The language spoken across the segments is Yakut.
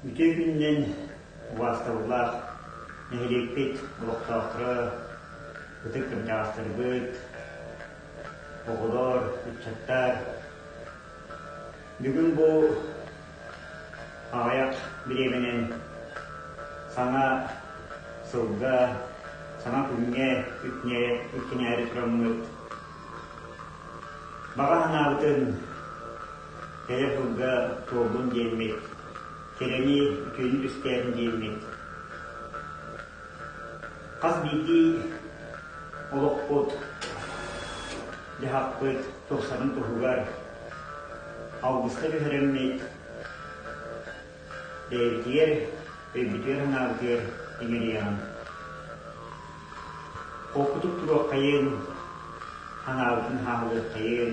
Үтүө күнүнэн убаастабыллаах нэһилиэкпит олохтоохторо, ытык кырдьаҕастарбыт, оҕолор, ыччаттар, Бүгүн бу аҕыйах бириэмэнэн саҥа сылга, саҥа күҥҥэ иккинээри тураммыт баҕа санаабытын телефонга туолбун диэммит, кэрэни үтүөнү түстээбин диэммит Хас биирдии олохпут, дьаһахпыт тупсарын туһугар алгыска түһэрэммит, бэйэтигэр, өйбүтүгэр-санаабытыгар иҥэриэҕин. Холкутук туруоххайын, санаабытын хааһылыаххайын,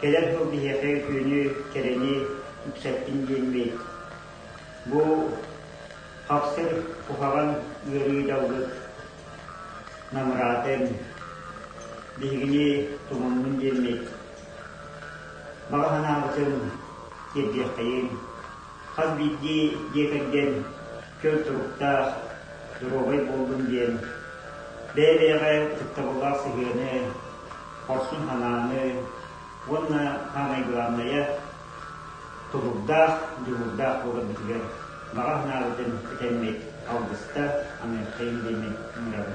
Кэлэр сыл биһиэхэ үтүөнү, кэрэни үксэттин диэммит. Бу хапсар куһаҕан ыарыы далгыт намыраатын биһигини тумуннун диэммит. Баҕа санаабытын тиэрдиэххэйин. Хас биирдии дьиэ кэргэн көл туруктаах, доруобай буоллун диэн бэйэ-бэйэҕэ ытыктабыллаах сыһыаны, хорсун санааны уонна саамай главное тулурдаах, дьулурдаах буоларбытыгар баҕа санаабытын этэммит алгыста Америкаин диэни мырабын.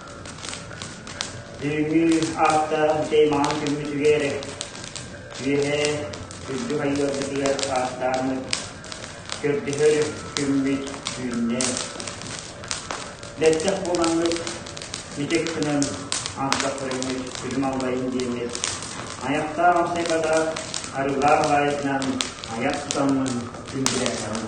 Бүгүҥҥү аапта чэй маҕан күммүтүгэр үөһэ үрдүк айыыларбытыгар ааттаан көрдөһөр күммүт түүннэ. Бэттэх буолаҥҥыт мичик гынан антта көрөммүт күлүм аллайын диэммит аяқтаах апсайката арыылаах баайытынан аяқ тутаммын күндүлээтэҕим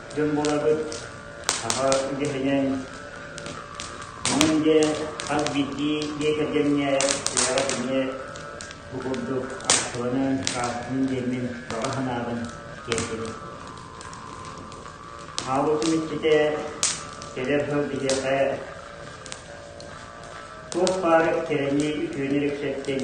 дьон буолабыт. Саха үгэһинэн онон дьэ хас биирдии дьиэ кэргэҥҥэ үйэҕэ эмиэ бу курдук аахсыбанан, сааскытын диэммин баҕа санаабын тиэрдэбин. Хаалбытым иччитэ кэлэр сыл биһиэхэ туох баар кэрэни үтүөнү репсэттин,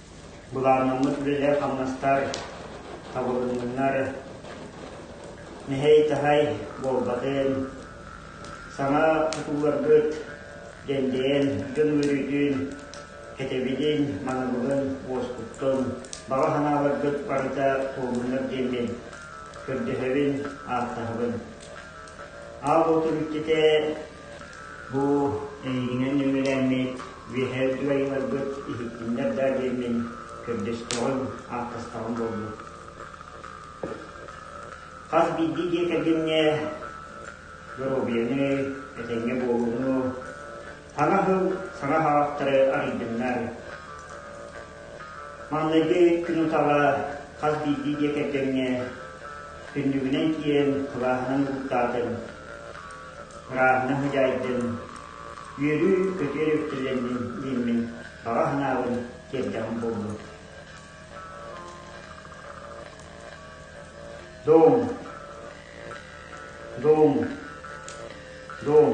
Былааннаммыт үлэлэр-хамнастар табылыннынар, мэһэй-таһай буолбатын, саҥа тутууларгыт дэндэйэн дьон үөрүүтүн, кэтэбилин, манабылын уоскуттун, баҕа санааларгыт барыта туолуннар диэн мин көрдөһөбүн, ааттаһабын. Аал Оту бүттүтэ Бу эйигинэн үҥүүлэммит үөһээ үтүө айымньыларгыт иһиттиннэр да диэммин, көрдөстөҕүм, ааттастаҕым буолбут. Хас биирдии дьиэ кэргэҥҥэ доруобуйаны, этэҥҥэ буолууну, саҥа сыл саҥа хаҕахтары арыйдыннар. Маҥнайгы күн утаҕа хас биирдии дьиэ кэргэҥҥэ түннүгүнэн киирэн кылааһынан угуттаатын. кураанна хозяйдын, үөрүү көтүөр үктэллэммин ииммин баҕа санаабын тиэрдэҕим буоллун. Дом, дом, дом.